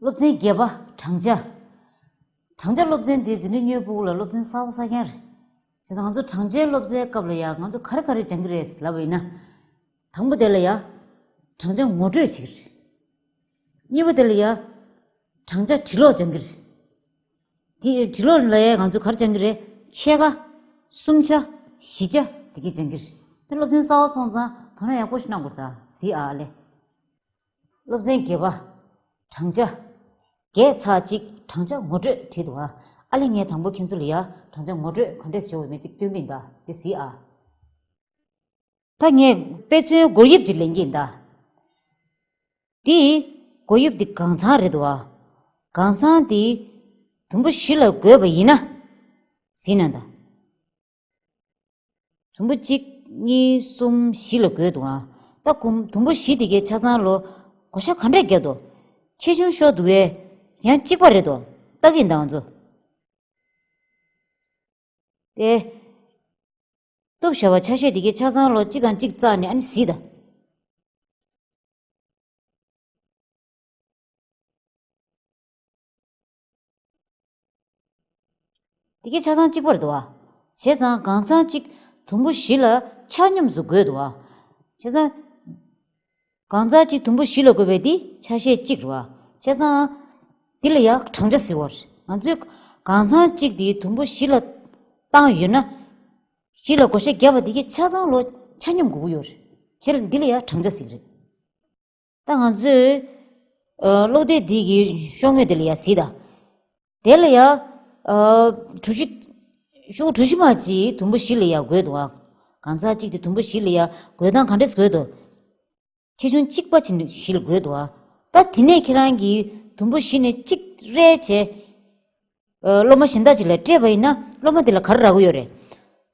སློབ་ཚན་བརྒྱད་པ་བགྲང་བྱ། བགྲང་བྱ་སློབ་ཚན་དེ་འཛིན་གྲྭ་སྨྱོས་པོ་ལ་སློབ་ཚན་གསར་བ་གསར་རྐྱང་རེད། བྱས་ཙང་ང་ཚོ་བགྲང་བྱའི་སློབ་ཚན་སྐབས་ལ་ཡང་ང་ཚོ་ག་རེ་ག་རེ་སྦྱང་གི་རེད་ལབ་པ་ཡིན་ན། དང་པོ་དེ་ལ་ཡང་བགྲང་བྱ་ངོ་སྤྲོད་བྱེད་ཀྱི་རེད། གཉིས་པ་དེ་ལ་ཡང་བགྲང་བྱ་བྲི་ཀློག་སྦྱང་གི་རེད། དེ་བྲི་ཀློག་ལ་ཡང་ང་ཚོ་ག་རེ་སྦྱང་གི་རེད་ཕྱེད་ཀ། གསུམ་ཆ། བཞི་ཆ་དེ་གས་སྦྱང་གི་རེད། དེ་སློབ་ཚན་གསར་བ་སོང་ཙང་དོ་སྣང་ཡག་པོ་ཞིག་གནང་དགོས་རེད་ད་གཟིགས་ཨ་ཨ་ལེ། སློབ་ཚན་དགེ་བ། བགྲང་བྱ། བརྒྱད་ཚར་གཅིག་བགྲང་བྱ་ངོ་སྤྲོད་བྲིས་འདུག་ཨ་ཨ་ལི་ངའི་དང་པོ་ཁྱེད་ཚོ་ལ་ཡ་བགྲང་བྱ་ངོ་སྤྲོད་ག་འདྲས་བྱེད་འོས་མེད་ཅིག་སྟོན་གི་འདའ་དེ་གཟིགས་ཨ། ད་ངས་དཔེ་མཚོན་སྒོར་དབྱིབས་དེ་ལེན་གི་འདའ། དེ་སྒོར་དབྱིབས་དེ་གང་ཚང་རེད་འདུག་ཨ། གང་ཚང་དེ། དུམ་བུ་བཞི་ལ་བགོས་པ་ཡིན་ན། གཟིགས་ན་འདའ། དུམ་བུ་གཅིག་གཉིས་གསུམ་བཞི་ལ་བགོས་འདུག་ཨང། ད་གུམ་དུམ་བུ་བཞི་དེ་གའི་ཆ་ཚང་ལོ་གོ་ཤ་ག་འདྲ་བརྒྱབ་འདུག། ཆེ་ཆུང་ཤོར་འདུག་ཨེ། ཡང་གཅིག་པ་རེད་འདུག་སྟག་གི་མདངས་མཛོ། ཏེ། སྟོབས་ཞྭ་བ་ཆ་ཤས་དེ་གའི་ཆ་ཚང་ལོ་གཅིག་གང་གཅིག་བཙགས་ནས་ཨ་ནི་བཟི་ད། དེ་ཀས་ཆ་ཚང་གཅིག་པར་དུ་བ། བྱས་ཙང་གང་ཚང་གཅིག་དུམ་བུ་བཞི་ལ་ཆ་སྙོམས་སུ་བགོད་དུ་བ། བྱས་ཙང་གང་ཚང་གཅིག་དུམ་བུ་བཞི་ལ་བགོད་པས་འདི་ཆ་ཤས་གཅིག་རེད་བ། བྱས་ཙང། འདི་ལ་ཡང་བགྲང་བྱ་བཟི་བར། ང་ཚོས་གང་ཚང་གཅིག་དེ་དུམ་བུ་བཞི་ལ་བཏང་ཡོད་ན། བཞི་ལ་བགོ་བཤའ་བརྒྱབ་པ་དེ་ཀས་ཆ་ཚང་ལོ་ཆ་སྙོམས་དགོས་ཀྱི་ཡོད་རེད། བྱས་ལ་འདི་ལ་ཡང་བགྲང་བྱ་བཟི་གི་རེད། ད་ང་ཚོས་གློག་སྡེ་འདི་ཡི་ཤོག་ངོས་དེ་ལ་ཡང་གཟིགས་དང། དེ་ལ་ཡང་གྲུ་བཞི། ཤོག་གྲུ་བཞི་མ་གཅིག་དུམ་བུ་བཞི་ལ་ཡང་དགོད་འདུག་ཨ། གང་ཟག་གཅིག་དེ་དུམ་བུ་བཞི་ལ་ཡང་དགོད་སྟངས་ག་འདྲས་སུ་དགོད་དོ། ཆེ་ཆུང་གཅིག་པ་བྱིན་བཞི་ལ་དགོད་འདུག་ཨ། ད་དེ་ནས་ཁྱེད་རང་གིས་དུམ་བུ་བཞི་ནས་གཅིག་རེ་བྱས། སློབ་མ་གཞན་དག་ཅིག་ལ་སྤྲད་པ་ཡིན་ན་སློབ་མ་དེ་ལ་ག་རེ་རག་གི་ཡོད་རེད།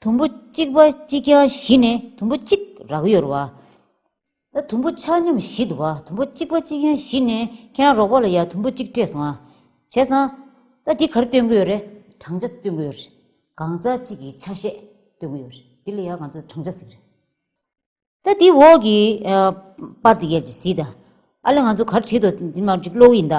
དུམ་བུ་གཅིག་པ་གཅིག་རྐྱང་བཞི་ནས་དུམ་བུ་གཅིག་རག་གི་ཡོད་རེད་བ། ཡ་དུམ་བུ་ཆ་སྙོམས་བཞི་འདུག་བ་དུམ་བུ་གཅིག་པ་གཅིག་ཡན་བཞི་ནས་ཁྱེད་རང་རོགས་པ་ལ་ཡ་དུམ་བུ་གཅིག་སྤྲད་སོང་ཨ། བྱས་ཙང། ད་འདི་གར་སྟོན་གི་ཡོད་རེད་བགྲང་བྱ་སྟོན་གི་ཡོད་རེད། གང་ཟག་གཅིག་གི་ཆ་ཤས་སྟོན་གི་ཡོད་རེད་འདི་ལ་ཡ་གང་ཚོད་བགྲང་བྱ་ཟིག་རེད། ད་འདི་འོག་གི་པར་འདི་གས་ཟིག་ད། ཨ་ལས་ང་ཚོ་གར་བྲིས་འདུག་འདི་མ་གྲིག་གློག་ཡིན་ད།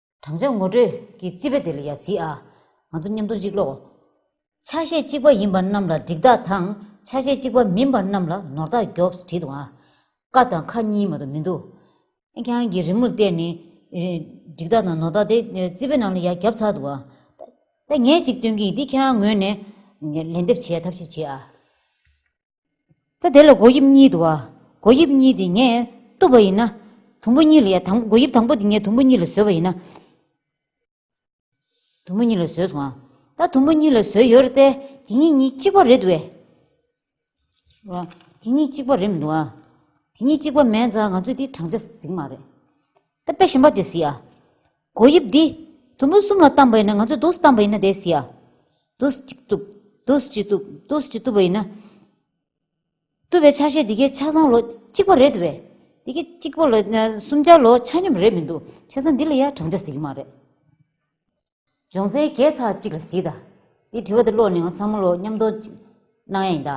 བགྲང་བྱ་ངོ་སྤྲོད་ཀྱི་རྩིས་པ་དེ་ལ་ཡ་བཟི་ཨ། ང་ཚོ་མཉམ་འདུག་གཅིག་ལོག། ཆ་ཤས་གཅིག་པ་ཡིན་པ་རྣམས་ལ་འགྲིག་རྟགས་དང་ཆ་ཤས་གཅིག་པ་མིན་པ་རྣམས་ལ་ནོར་རྟགས་རྒྱོབས་བྲིས་འདུག་ཨ། ཀ་དང་ཁ་གཉིས་མ་གཏོགས་མི་འདུག་ཨ། ཁྱེད་རང་གིས་རི་མོར་བལྟས་ནས་འགྲིག་རྟགས་དང་ནོར་རྟགས་དེ་རྩིས་པའི་ནང་ལ་ཡ་བརྒྱབས་ཚར་འདུག་ཨ། ད་ངས་གཅིག་སྟོན་གྱི་ཡིན་འདི་ཁྱེད་རང་ངོས་ནས་ལན་འདེབས་བྱེད་ཐབས་ཤིག་བྱེད་ཨ། ད་དེ་ལ་སྒོ་དབྱིབས་གཉིས་འདུག་ཨ། སྒོ་དབྱིབས་གཉིས་དེ་ངས་གཏུབ་པ་ཡིན་ན། དུམ་བུ་གཉིས་ལ་ཡ། སྒོ་དབྱིབས་དང་པོ་དེ་ངས་དུམ་བུ་གཉིས་ལ་བཟོས་པ་ཡིན་ན། དུམ་བུ་གཉིས་ལ་བཟོས་སོང་ཨ། ད་དུམ་བུ་གཉིས་ལ་བཟོས་ཡོད་རེད་དེ། དེ་གཉིས་གཉིས་གཅིག་པ་རེད་འདུག་ཨེ། དེ་གཉིས་གཅིག་པ་རེད་མི་འདུག་ཨ། དེ་གཉིས་གཅིག་པ་མེད་ཙང་ང་ཚོས་དེ་བགྲང་བྱ་ཟིག་མ་རེད། ད་དཔེ་གཞན་པ་བྱས་ཟིས་ཨ། གོ་དབྱིབས་འདི། དུམ་བུ་གསུམ་ལ་གཏམས་པ་ཡིན་ན་ང་ཚོས་རྡོ་གསུམ་གཏམས་པ་ཡིན་ན་བསྡད་ཟིས་ཨ། རྡོ་གསུམ་གཅིག་བཏུབ། རྡོ་གསུམ་གཅིག་བཏུབ། རྡོ་གསུམ་གཅིག་བཏུབ་པ་ཡིན་ན། བཏུབ་པའི་ཆ་ཤས་འདི་གའི་ཆ་ཚང་ལོ་གཅིག་པ་རེད་འདུག་བས། འདི་གའི་གཅིག་པ་ལོ་གསུམ་ཆ་ལོ་ཆ་སྙོམས་རེད་མི་འདུག་ཆ་ཚང་འདི་ལ་ཡང་བགྲང་བྱ་ཟེར་གྱི་མ་རེད། སྦྱོང་ཚན་བརྒྱད་ཚགས་གཅིག་ལ་གཟིགས་ད། འདི་དྲི་བ་འདི་ཀློག་ནས་ང་ཚང་མ་ལོ་མཉམ་མདོག་ཅིག་གནང་ཡ་ཡིན་ད།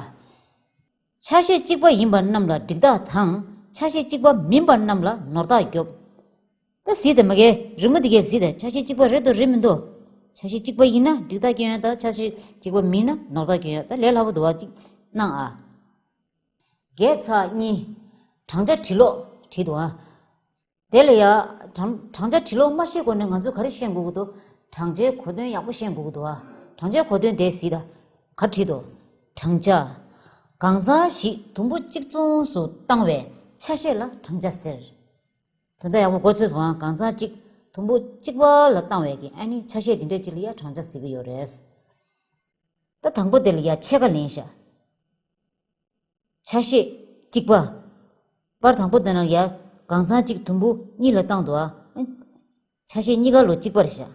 ཆ་ཤས་གཅིག་པ་ཡིན་པ་རྣམས་ལ་འགྲིག་ད་དང། ཆ་ཤས་གཅིག་པ་མིན་པ་རྣམས་ལ་ནོར་ད་རྒྱོབ། ད་གཟིགས་ད་མ་གལ་རི་མོ་འདི་གས་གཟིགས་ད་ཆ་ཤས་གཅིག་པ་རེད་འདོག་རེད་མི་འདོག། ཆ་ཤས་གཅིག་པ་ཡིན་ན་འགྲིག་ད་སྐྱོན་ཡོད་ད་ཆ་ཤས་གཅིག་པ་མིན་ན་ནོར་ད་སྐྱོན་ཡོད་ད་ལས་སླ་པོ་འདུག་བ་ཅིག་གནང་ཨ། བརྒྱད་ཚགས་གཉིས། བགྲང་བྱ་བྲིས་ཀློག་བྲིས་འདུག་ཨ། དེ་ལ་ཡང། བགྲང་བྱ་དྲི་ལོག་སྨྲ་ཤེས་སྒོ་ནས་ང་ཚོས་ག་རེ་ཤེས་འགོག་གི་འདུག་བགྲང་བྱའི་གོ་དོན་ཡག་པོ་ཤེས་འགོག་གི་འདུག་བགྲང་བྱའི་གོ་དོན་དེ་གཟིགས་དང། གར་བྲིས་འདུག་བགྲང་བྱ། གང་ཚང་ཞིག་དུམ་བུ་གཅིག་མཚུངས་སུ་བཏང་བའི་ཆ་ཤས་ལ་བགྲང་བྱ་ཟེར། དོན་དག་ཡག་པོ་གོ་ཚོད་སོང་ཡང་གང་ཚང་གཅིག་དུམ་བུ་གཅིག་པ་ལ་བཏང་བའི་གི་ཨ་ནི་ཆ་ཤས་འདི་འདྲ་གཅིག་ལ་ཡང་བགྲང་བྱ་ཟེར་གི་ཡོད་རེད། ད་དང་པོ་དེ་ལ་ཡང་ཕྱེད་ཀ་ལེན་ཤག། ཆ་ཤས། གཅིག་པ། པར་དང་པོ་དེ་རྣམས་ཡང་གང་ཚང་གཅིག་དུམ་བུ་གཉིས་ལ་བཏང་དུ་ཨ། ཆ་ཤས་གཉིས་ཀ་ལོ་གཅིག་པར་བཞག།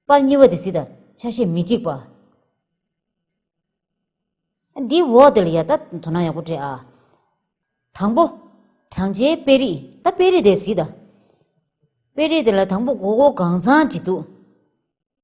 པར་གཉིས་པ་དེ་སྲིད་དང་ཆ་ཤས་མི་གཅིག་པ། འདིའི་འོག་དེ་ལ་ཡང་ད་དོ་སྣང་ཡག་པོ་སྤྲད་ཨ། དང་པོ། བགྲང་བྱའི་དཔེ་རིས་ད་དཔེ་རིས་དེ་སྲིད་དང། དཔེ་རིས་དེ་ལ་དང་པོ་གོ་གོ་གང་ཚང་གཅིག་འདུག།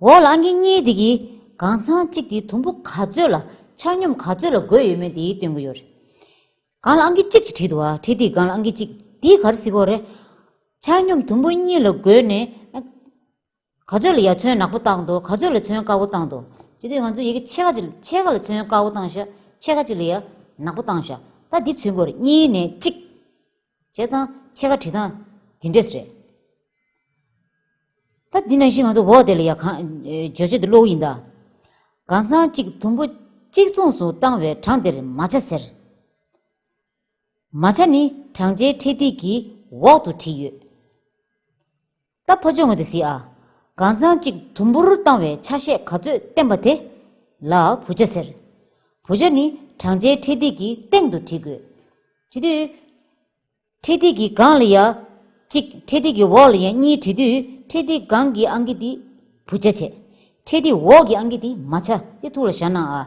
འོག་ལ་ངེད་གཉིས་དེ་གི་གང་ཚང་གཅིག་དེའི་དུམ་བུ་ག་ཚོད་ལ་ཆ་སྙོམས་ག་ཚོད་ལ་བགོས་ཡོད་མེད་དེའི་སྟོན་གི་ཡོད་རེད། གང་ལ་ཨང་ཀི་གཅིག་གི་བྲིས་འདུག་ཨ་བྲིས་དེའི་གང་ལ་ཨང་ཀི་གཅིག་དེའི་གར་སི་ཀོ་རེད། ཆ་སྙོམས་དུམ་བུ་གཉིས་ལ་བགོས་ནས་ག་ཚོད་ལ་ཡ་མཚོན་ནག་པོ་བཏགས་འདུག་ག་ཚོད་ལ་མཚོན་དཀར་པོ་བཏགས་འདུག་བྱས་དུས་ང་ཚོས་ཡི་གེ་ཕྱེད་ཀ་གཅིག་ཕྱེད་ཀ་ལ་མཚོན་དཀར་པོ་བཏང་ཤག་ཕྱེད་ཀ་གཅིག་ལ་ཡ་ནག་པོ་བཏང་ཤག་ད་དེ་ཚུན་སྐོར་གཉིས་ནས་གཅིག། བྱས་ཙང་ཕྱེད་ཀ་བྲིས་སྟངས་འདི་འདྲས་རེད། ད་འདི་ནང་བཞིན་ང་ཚོ་འོག་དེ་ལ་ཡང་གང་བརྗོད་བྱེད་དུ་བློའུ་ཡིན་ད། གང་ཙང་གཅིག་དུམ་བུ་གཅིག་མཚུངས་སུ་བཏང་བའི་གྲངས་དེར་མ་ཆ་ཟེར། མ་ཆ་ནི་གྲངས་ཆའི་འཕྲེད་ཐིག་གི་འོག་ཏུ་བྲིས་ཡོད། རྟ་ཕོ་ཅོ་ངོས་དེ་ཟིག་ཨ། གང་རྩང་གཅིག་དུམ་བུར་བཏང་བའི་ཆ་ཤས་ག་ཚོད་བསྟན་པ་དེ། ལ་བུ་ཆ་ཟེར། བུ་ཆ་ནི་བགྲང་བྱའི་འཕྲེད་ཐིག་གི་སྟེང་དུ་བྲིས་དགོས། བྲིས་དུས། འཕྲེད་ཐིག་གི་སྒང་ལ་ཡ། གཅིག་འཕྲེད་ཐིག་གི་འོག་ལ་ཡ་གཉིས་བྲིས་དུས་འཕྲེད་ཐིག་སྒང་གི་ཨང་ཀི་དེ། བུ་ཆ་བྱས། འཕྲེད་ཐིག་འོག་གི་ཨང་ཀི་དེ་མ་ཆ་དེ་ཐུག་ལ་བཞག་ན་ཨ།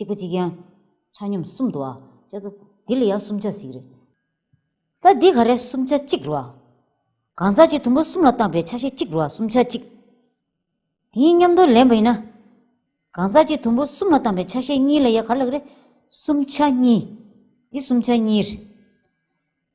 གཅིག་པ་གཅིག་ཡན་ཆ་སྙོམས་གསུམ་དུ་ཨ། འདི་ལ་ཡང་གསུམ་ཆ་ཟིག་རེད། ད་འདི་ག་རེ་གསུམ་ཆ་གཅིག་རོ་ཨ། གང་ཟག་གཅིག་དུམ་བུ་གསུམ་ལ་བཏང་པའི་ཆ་ཤས་གཅིག་རོ་ཨ་གསུམ་ཆ་གཅིག། དེའི་མཉམ་དུ་ལེན་པ་ཡིན་ན། གང་ཟག་གཅིག་དུམ་བུ་གསུམ་ལ་བཏང་པའི་ཆ་ཤས་གཉིས་ལ་ཡང་ག་རེ་ལགས་རེད། གསུམ་ཆ་གཉིས། འདི་གསུམ་ཆ་གཉིས་རེད།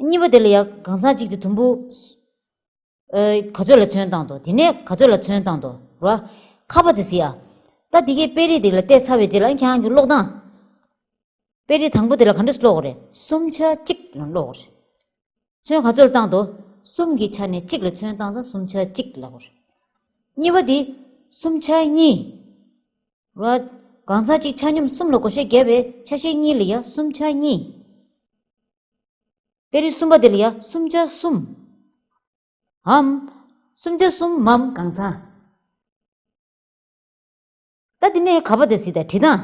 གཉིས་པ་དེ་ལ་ཡང་གང་ཟག་གཅིག་གིས་དུམ་བུ། ག་ཚོད་ལ་ཚོན་བཏང་དོ་དེ་ནས་ག་ཚོད་ལ་ཚོན་བཏང་དོ་ར། ཁ་བ་ཛི་སི་ཨ། ད་དེ་གའི་དཔེ་རིས་དེ་ལ་བལྟས་ཚར་བའི་རྗེས་ལ་ཁྱེད་རང་གིས་ཀློག་སྟངས། དཔེ་རིས་དང་པོ་དེ་ལ་ག་འདྲས་སུ་ཀློག་གོ་རེད་གསུམ་ཆ་གཅིག་ལ་ཀློག་གོ་རེད། ཚོན་ག་ཚོད་ལ་བཏང་དོ་གསུམ་གྱི་ཆ་ནས་གཅིག་ལ་ཚོན་བཏང་ཙང་གསུམ་ཆ་གཅིག་ལ་གོ་རེད། གཉིས་པ་དེ་གསུམ་ཆ་གཉིས། ར། གང་ཟག་གཅིག་ཆ་སྙོམས་གསུམ་ལ་གོ་ཤེས་བརྒྱ་བས་ཆ་ཤས་གཉིས་ལ་ཡང་གསུམ་ཆ་གཉིས། དཔེ་རིས་གསུམ་པ་འདི་ལ་ཡང་སུམ་བརྒྱ་གསུམ་འམ། སུམ་བརྒྱ་གསུམ་མམ་གང་ཚང། ད་འདི་ནས་ག་བ་དེ་གཟིགས་དང་བྲིས་དང།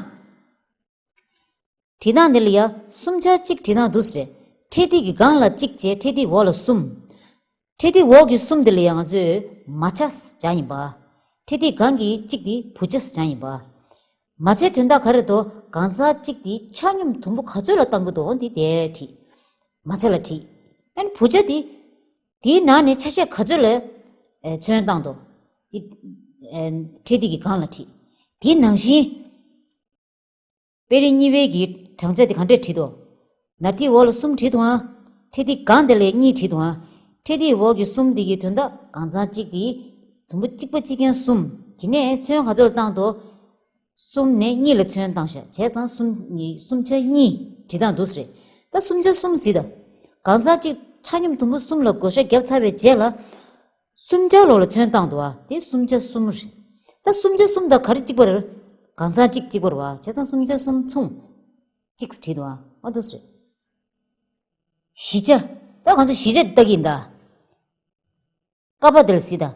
བྲིས་དང་འདི་ལ་ཡང་སུམ་ཆ་གཅིག་བྲིས་དང་དུ་སེ། ཁྲེ་ཐིག་གི་སྒང་ལ་གཅིག་བཅས་ཁྲེ་ཐིག་འོག་ལ་གསུམ། ཁྲི་སྟེགས་འོག་གི་གསུམ་དེ་ལ་ཡང་ཚོས་མ་བྱ་བྱ་ཡིན་པ། ཁྲི་སྟེགས་གང་གི་གཅིག་དེ་བུ་བྱ་བྱ་ཡིན་པ། མ་བྱའི་དོན་དག་ག་རེད་དོ་གང་ཚ་གཅིག་དེ་ཆ་སྙོམས་དུམ་བུ་ག་ཚོད་ལ་བཏང་གི་འདུག་འདི་དེ་ཁྲི། མ་བྱ་ལ་ཁྲི། ཨན་བུ་བྱ་དེ། དེའི་ནང་ནས་ཆ་ཤས་ག་ཚོད་ལ། ཚོན་བཏང་འདུག། འདི། ཁྲི་སྟེགས་ཀྱི་གང་ལ་ཁྲི། དེའི་ནང་བཞིན། དཔེ་རིས་གཉིས་དཔེ་གྱི་བགྲང་བྱ་དེ་གང་འདྲས་བྲིས་ཏོ། ནར་ཏིའི་འོག་ལ་གསུམ་བྲིས་ཏོའང། ཁྲེ་ཏིའི་གང་དེ་ལས་གཉིས་བྲིས་ཏོའང། ཁྲེ་ཏིའི་འོག་གི་གསུམ་དེ་གྱི་དོན་དག་གང་ཚང་གཅིག་དེ། དུམ་བུ་གཅིག་པ་གཅིག་མཁན་གསུམ། དེ་ནས་མཚོན་ག་ཚོད་ལ་བཏང་ཏོ། གསུམ་ནས་གཉིས་ལ་མཚོན་བཏང་ཤ་བྱས་ཚང་གསུམ་གཉིས་གསུམ་ཆ་གཉིས་བྲིས་སྟངས་འདུག་ཟེར། ད་གསུམ་ཆ་གསུམ་བཟི་ད། གང་ཚང་གཅིག་ཕྲ་སྙོམས་དུམ་བུ་གསུམ་ལ་བགོ་ཤ་བརྒྱབ་ཚར་བའི་རྗེས་ལ། སུམ་ཆ་ལོག་ལ་ཚོན་བཏང་དུ་བ་དེ་སུམ་ཆ་གསུམ་རེད། ད་སུམ་ཆ་གསུམ་དང་ག་རེ་གཅིག་པར། གང་ཚང་གཅིག་གཅིག་པར་བ་བྱས་ཙང་སུམ་ཆ་གསུམ་མཚུངས། གཅིག་བྲིས་འདུག་ཨང་ཨ་དོ་སི། བཞི་ཆ། ད་གང་ཚོད་བཞི་ཆ་བལྟ་གིན་གདའ། ཀ་པཱ་དལ་སི་དང།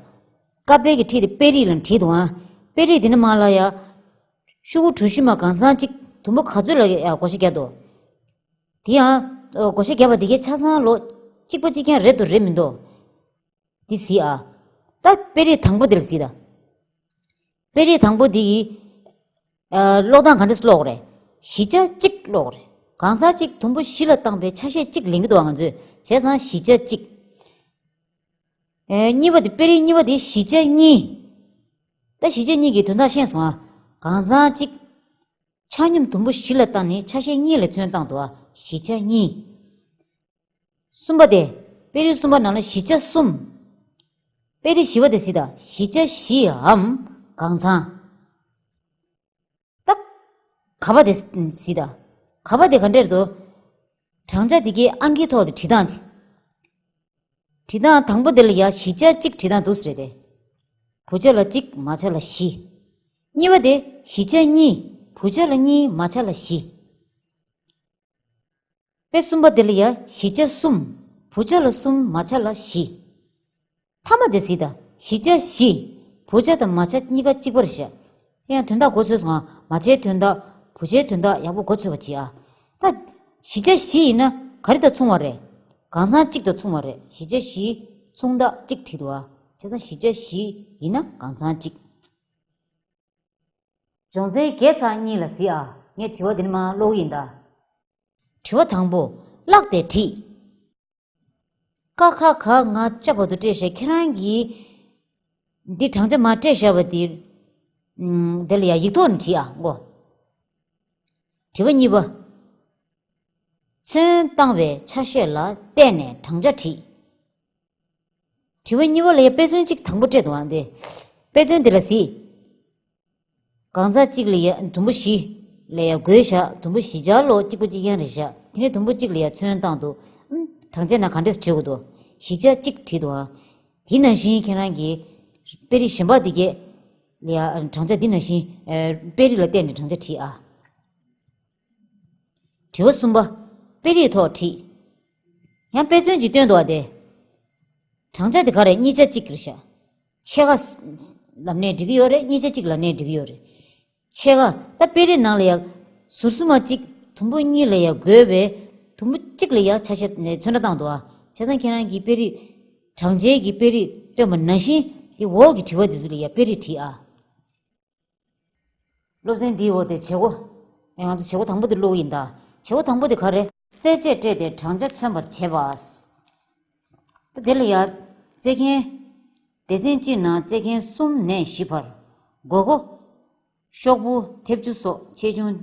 ཀ་དཔལ་གྱི་ཁྲིད་དེ་དཔེ་རིས་ལ་བྲིས་འདུག་ཨང། དཔེ་རིས་འདི་ནི་མ་ལ་ཡ། ཤུ་གུ་གྲུ་བཞི་མ་གང་ཚང་གཅིག་དུམ་བུ་ག་ཚོད་ལ་ཡ་གོ་ཤེས་རྒྱ་དོ། དེ་ཡང། སྒོ་ཤེས་བརྒྱ་པ་འདི་གའི་ཆ་ཚང་ལོ། གཅིག་པ་གཅིག་ཀྱང་རེད་དོ་རེད་མིན་དོ། འདི་བཟི་ཨ། ད་དཔེ་རིས་དང་པོ་འདིར་བཟི་ད། དཔེ་རིས་དང་པོ་འདི་ཡི། ཀློག་སྟངས་ག་འདྲ་ཀློག་རེད། བཞི་ཆ་གཅིག་ཀློག་རེད། གང་ཟག་གཅིག་དུམ་བུ་བཞི་ལ་བཏང་པའི་ཆ་ཤས་གཅིག་ལེན་གི་འདུག་ང་ཚོས་བྱས་ཙང་བཞི་ཆ་གཅིག། གཉིས་པ་འདི་དཔེ་རིས་གཉིས་པ་འདི་བཞི་ཆ་གཉིས། ད་བཞི་ཆ་གཉིས་ཀྱི་དོན་དག་ཤེས་སོང་ཨ། གང་ཟག་གཅིག། ཆ་སྙོམས་དུམ་བུ་བཞི་ལ་བཏང་ནས་ཆ་ཤས་གཉིས་ལ་ཚོན་བཏང་དུ་བཞི་ཆ་གཉིས། གསུམ་པ་སྟེ། དཔེ་རིས་གསུམ་པ་ནང་ལ་བཞི་ཆ་གསུམ། དཔེ་དེ་བཞི་བ་དེ་སྲིད་དང་བཞི་ཆ་བཞིའམ་གང་ཚང། ཏག། ག་པ་དེ་སྲིད་དང་ག་པ་དེ་ག་འདྲེར་དུ། བགྲང་བྱ་དེ་གའི་ཨང་ཀིའི་ཐོག་ཏུ་བྲིས་སྟངས་དེ། བྲིས་དང་དང་པོ་དེ་ལ་ཡ་བཞི་ཆ་གཅིག་བྲིས་དང་དུ་ཟེར་ཏེ། བུ་ཆ་ལ་གཅིག་མ་ཆ་ལ་བཞི། གཉིས་པ་དེ་བཞི་ཆ་གཉིས་བུ་ཆ་ལ་གཉིས་མ་ཆ་ལ་བཞི། པའི་གསུམ་པ་དེ་ལ་ཡ་བཞི་ཆ་གསུམ་བུ་ཆ་ལ་གསུམ་མ་ཆ་ལ་བཞི། ཐ་མ་དེ་བཞི་དང་བཞི་ཆ་བཞི་བུ་ཆ་དང་མ་ཆ་གཉིས་ཀ་གཅིག་པར་བཞག་ཡང་དོན་དག་འགོ་ཚོས་ང། མ་བྱས་དོན་དག། བུ་བྱས་དོན་དག་ཡག་པོ་འགོ་ཚོས་པ་གྱིས་ཨ། ད། བཞི་ཆ་བཞི་ཡིན་ན་ག་རེ་དང་མཚུངས་བ་རེད། གང་ཚང་གཅིག་དང་མཚུངས་བ་རེད་བཞི་ཆ་བཞི། མཚུངས་དག་གཅིག་བྲིས་འདུག་ཨ། ཆ་ཚང་བཞི་ཆ་བཞི་ཡིན་ན་གང་ཚང་གཅིག། སྦྱོང་ཚན་བརྒྱད་ཚང་གཉིས་ལ་གཟིགས་ཨ། ངས་དྲི་བ་འདི་ནི་མ་ཀློག་ཡིན་ད། དྲི་བ་དང་པོ། བཀླགས་ཏེ་བྲིས། ཀ་ཁ་ག་ང་ལྕགས་པ་དུ་སྤྲད་ཞེས་ཁྱེད་རང་གིས། འདི་བགྲང་བྱ་མ་སྤྲད་བཞག་པ་འདི། འདི་ལ་ཡང་ཡིག་ཐོག་ནས་བྲིས་ཨ་མགོ། དྲི་བ་གཉིས་པ། མཚོན་བཏང་བའི་ཆ་ཤས་ལ་བལྟས་ནས་བགྲང་བྱ་བྲིས། དྲི་བ་གཉིས་པ་ལ་ཡང་དཔེ་མཚོན་གཅིག་དང་པོ་སྤྲད་འདུག་ཨ་འདི། དཔེ་མཚོན་འདི་ལ་གཟིགས། གང་རྩ་གཅིག་ལ་ཡང་དུམ་བུ་བཞི། ལ་ཡང་གོས་བཞག་དུམ་བུ་བཞི་སྦྱར་ལོ་གཅིག་པོ་གཅིག་ཡན་རེ་བཞག་དེ་ནས་དུམ་བུ་གཅིག་ལ་ཡང་ཚོན་བཏང་དུ་དྲང་བྱས་ན་གང་འདྲས་བྲིའོ་དུ་བཞི་ཆ་གཅིག་བྲིས་དུའང། དེ་ནང་བཞིན་ཁྱེད་རང་གི། དཔེ་རིས་གཞན་པ་འདི་བརྒྱད། ལ་ཡང་དྲང་བྱ་འདི་ནང་བཞིན། དཔེ་རིས་ལ་བལྟས་ནས་དྲང་བྱ་བྲིས་ཨ། དྲི་བ་གསུམ་པ། དཔེ་རིས་ཐོག་བྲིས། ཡང་དཔེ་མཚོན་གྱིས་སྟོན་ཏོ་བ་དེ། བགྲང་བྱ་དེ་ག་རེད་གཉིས་ཆ་གཅིག་རེད་ཤག། ཕྱེད་ཀ། ལབ་ནས་འབྲི་གི་ཡོད་རེད་གཉིས་ཆ་གཅིག་ལབ་ནས་འབྲི་གི་ཡོད་རེད། ཕྱེད་ཀ། ད་དཔེ་རིས་ནང་ལ་ཡང། ཟུར་གསུམ་མ་གཅིག་དུམ་བུ་གཉིས་ལ་ཡང་དགོས་པས། དུམ་བུ་གཅིག་ལ་ཡང་ཆ་ཤས་ནས་མཚོན་ན་བཏང་ཏོ་བ། བྱས་ཙང་ཁྱེད་རང་གིས་དཔེ་རིས། བགྲང་བྱའི་གི་དཔེ་རིས་སྟོན་པ་ནང་བཞིན། དེ་འོག་གི་དྲི་བ་དེ་ཚོ་ལ་ཡང་དཔེ་རིས་བྲིས་ཨ། སློབ་ཚན་འདིའི་འོག་ཏུ་བྱེད་སྒོ། ཡང་ང་ཚོ་བྱེད་སྒོ་དང་པོ་འདི་བླུགས་ཡིན་ད། བྱེད་སྒོ་དང་པོ་དེ་ག་རེད། རྩེད་ཆས་སྤྲས་ཏེ་བགྲང་བྱ་མཚོན་པར་བྱེད་པ། ད་དེ་ལ་ཡ། རྩེད་མཁན། སྡེ་ཚན་གཅིག་ནང་རྩེད་མཁན་གསུམ་ནས་བཞི་བར། དགོས་མཁོ། ཤོག་བུ་མཐེབ་ཆུ་སོགས་ཆེ་ཆུང།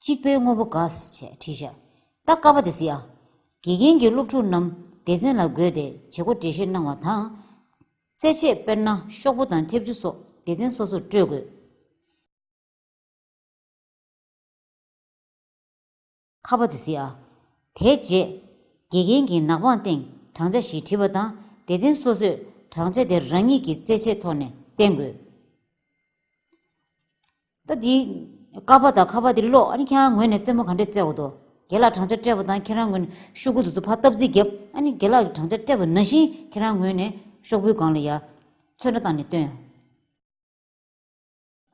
གཅིག་པའི་དངོས་པོ་འགའ་ཤས་བྲིས། བྱ་རྟ་ཀ་བ་དེ་བཟི། དགེ་རྒན་གྱིས་སློབ་ཕྲུག་རྣམས་སྡེ་ཚན་ལ་བགོས་ཏེ་བྱེད་སྒོ་འགྲེལ་བཤད་གནང་བ་དང། རྩེད་ཆས་དཔེར་ན་ཤོག་བུ་དང་མཐེབ་ཆུ་སོགས་སྡེ་ཚན་སོ་སོར་སྤྲོད་དགོས། ཁ་བ་དེ་བཟི་ཨ། དེའི་རྗེས། དགེ་རྒན་གྱིས་ནག་པང་སྟེང་བགྲང་བྱ་ཞིག་བྲིས་པ་དང་སྡེ་ཚན་སོ་སོས་བགྲང་བྱ་དེ་རང་ཉིད་ཀྱི་རྩེད་ཆས་ཐོག་ནས་བསྟན་དགོས། ད་འདི། ཀ་བ་དང་ཁ་བ་འདི་ཀློག་ཨ་ནི་ཁྱེད་རང་ངོས་ནས་རྩེད་མོ་ག་འདྲས་རྩེ་འོ་དོ། རྒན་ལགས་བགྲང་བྱ་སྤྲད་པ་དང་ཁྱེད་རང་ངོས་ནས་ཤོག་བུ་དེ་ཚོ་ཕར་བཏབ་རྩིས་བརྒྱབ་ཨ་ནི་རྒན་ལགས་ཀྱི་བགྲང་བྱ་སྤྲད་པ་ན་བཞིན་ཁྱེད་རང་ངོས་ནས་ཤོག་བུའི་སྒང་ལ་ཡ། ཚོད་འདྲ་བཏང་ནས་སྟོན།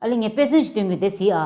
ཨ་ལེ་ངས་དཔེ་མཚོན་གྱིས་སྟོན་གི་འདེད་ཟིག་ཨ།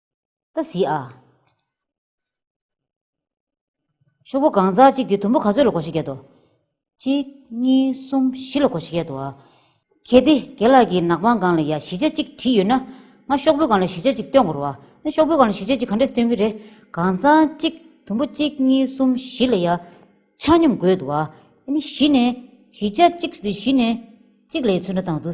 ད་གཟིགས་ཨ། ཤོག་བུ་གང་ཟག་གཅིག་དེ་དུམ་བུ་ག་ཚོད་ལ་གོ་ཞེས་བརྒྱད་དོ། གཅིག་གཉིས་གསུམ་བཞི་ལ་གོ་ཞེས་བརྒྱད་དོ། གལ་ཏེ་རྒན་ལགས་ཀྱིས་ནག་པང་གང་ལ་ཡང་བཞི་ཆ་གཅིག་བྲིས་ཡོད་ན། ང་ཤོག་བུ་གང་ལ་བཞི་ཆ་གཅིག་སྟོན་དགོས་རོ། ཨ། ཤོག་བུ་གང་ལ་བཞི་ཆ་གཅིག་ག་འདྲས་སུ་སྟོན་གྱི་རེད། གང་ཟག་གཅིག་དུམ་བུ་གཅིག་གཉིས་གསུམ་བཞི་ལ་ཡང་ཆ་སྙོམས་དགོས་འདུག་ཨ། བཞི་ནས་བཞི་ཆ་གཅིག་བཞི་ནས་གཅིག་ལས་ཚུལ་འདྲ་དང་དུ།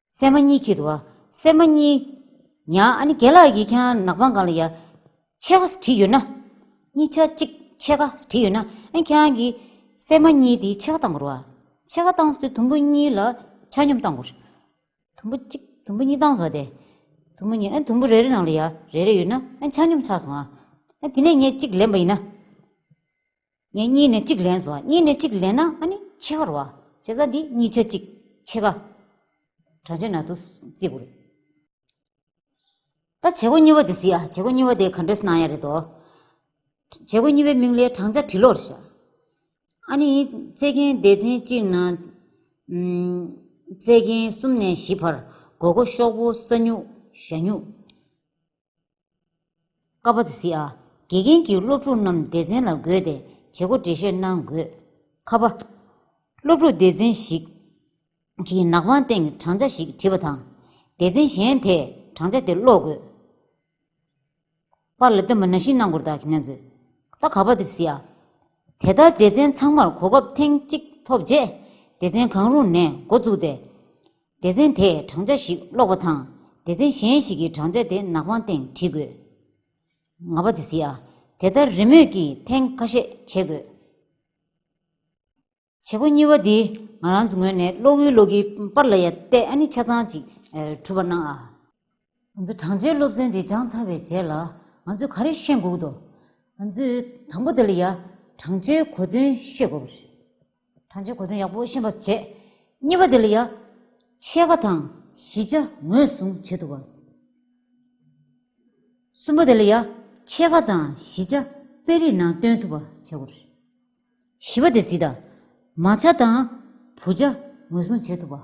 སྲན་མ་གཉིས་ཁྱེད་བ། སྲན་མ་གཉིས། ཡང་ཨ་ནི་རྒན་ལགས་ཡིས་ཁྱང་ནག་པང་གང་ལ་ཡ། ཆད་ཁ་བྲིས་ཡོད་ན། གཉིས་ཆ་གཅིག་ཆད་ཁ་བྲིས་ཡོད་ན། ཨ་ཁྱང་གིས། སྲན་མ་གཉིས་དེའི་ཆད་ཁ་བཏང་དགོར་བ། ཆད་ཁ་བཏང་སོ་དེ་དུམ་བུ་གཉིས་ལ་ཆ་སྙོམ་བཏང་དགོར། དུམ་བུ་གཅིག་དུམ་བུ་གཉིས་བཏང་སོ་དེ། དུམ་བུ་གཉིས་ཨ་དུམ་བུ་རེ་རེ་ནང་ལ་ཡ་རེ་རེ་ཡོད་ན་ཨ་ཆ་སྙོམ་ཆགས་སོང་ཨ། ཨ་དེ་ནས་ངས་གཅིག་ལེན་པ་ཡིན་ན། ངས་གཉིས་ནས་གཅིག་ལེན་སོ། གཉིས་ནས་གཅིག་ལེན་ན་ཨ་ནི་ཕྱེད་ཀར་བ། བྱེད་ས་འདི་གཉིས་ཆ་གཅིག་ཕྱེད་ཀ། དྲ་ཕྱེད་ན་དུ་བརྩི་དགོས་རེད། ད་བྱེད་སྒོ་གཉིས་པ་དེ་བཟི་ཨ། བྱེད་སྒོ་གཉིས་པ་དེ་ག་འདྲས་སྣང་ཡ་རེད་དོ། བྱེད་སྒོ་གཉིས་པའི་མིང་ལས་བགྲང་བྱ་དྲི་ལོར་བཞག། ཨ་ནི་རྩེ་མཁན་སྡེ་ཚན་གཅིག་ན། རྩེ་མཁན་གསུམ་ནས་བཞི་བར་དགོས་མཁོ་ཤོག་བུ་ས་སྨྱུག་ཞྭ་སྨྱུག། ཀ་པ་ཛི་ཨ། དགེ་རྒན་གྱིས་སློབ་ཕྲུག་རྣམས་སྡེ་ཚན་ལ་བགོས་ཏེ་བྱེད་སྒོ་འགྲེལ་བཤད་གནང་དགོས། ཁ་པ། སློབ་ཕྲུག་སྡེ་ཚན་ཞིག་གིས་ནག་པང་སྟེང་གི་བགྲང་བྱ་ཞིག་བྲིས་པ་དང། སྡེ་ཚན་གཞན་དེས་བགྲང་བྱ་དེ་ཀློག་དགོས། པར་ལ་སྟོན་པ་ན་ཤིང་ནག་འགོར་དག་གིས་མནན་མཛོད། ད་ཁ་པ་ཛི་ཨ། དེ་ལྟར་སྡེ་ཚན་ཚང་མར་གོ་སྐབས་ཐེངས་གཅིག་ཐོབ་རྗེས། སྡེ་ཚན་གང་རུང་ནས་འགོ་བཙུགས་ཏེ། སྡེ་ཚན་དེས་བགྲང་བྱ་ཞིག་ཀློག་པ་དང་སྡེ་ཚན་གཞན་ཞིག་གིས་བགྲང་བྱ་དེ་ནག་པང་སྟེང་བྲིས་དགོས། ང་པ་དེ་སིའ། དེ་ལྟར་རེས་མོས་ཀྱིས་ཐེངས་ཁ་ཤས་བྱེད་དགོས། བྱེད་སྒོ་གཉིས་པ་འདི་ང་རང་ཚོའི་ངོས་ནས་ཀློག་ཡུལ་ཀློག་གི་པར་ལ་ཡ་བལྟས་ཨ་ནི་ཆ་ཚང་ཅིག་གྲུབ་པར་སྣང་ཨ། ང་ཚོ་བགྲང་བྱའི་སློབ་ཚན་དེ་སྦྱངས་ཚར་བའི་རྗེས་ལ་ང་ཚོས་ག་རེ་ཤེས་འགུག་དོ། ང་ཚོས་དང་པོ་དེ་ལ་ཡ། བགྲང་བྱའི་གོ་དོན་ཤེས་དགོས་པ་རེད། བགྲང་བྱའི་གོ་དོན་ཡག་པོ་ཤེས་པ་བྱས། གཉིས་པ་དེ་ལ་ཡ། ཕྱེད་ཀ་དང་བཞི་ཆ་ངོས་བཟུང་བྱེད་ཐུབ་པ། གསུམ་པ་དེ་ལ་ཡ། ཕྱེད་ཀ་དང་བཞི་ཆ་དཔེ་རིས་ནང་སྟོན་ཐུབ་པ་བྱེད་དགོས་རེད། བཞི་པ་དེ་བཟི་དང། མ་ཆ་དང་བུ་ཆ་ངོས་བཟུང་བྱེད་ཐུབ་པ།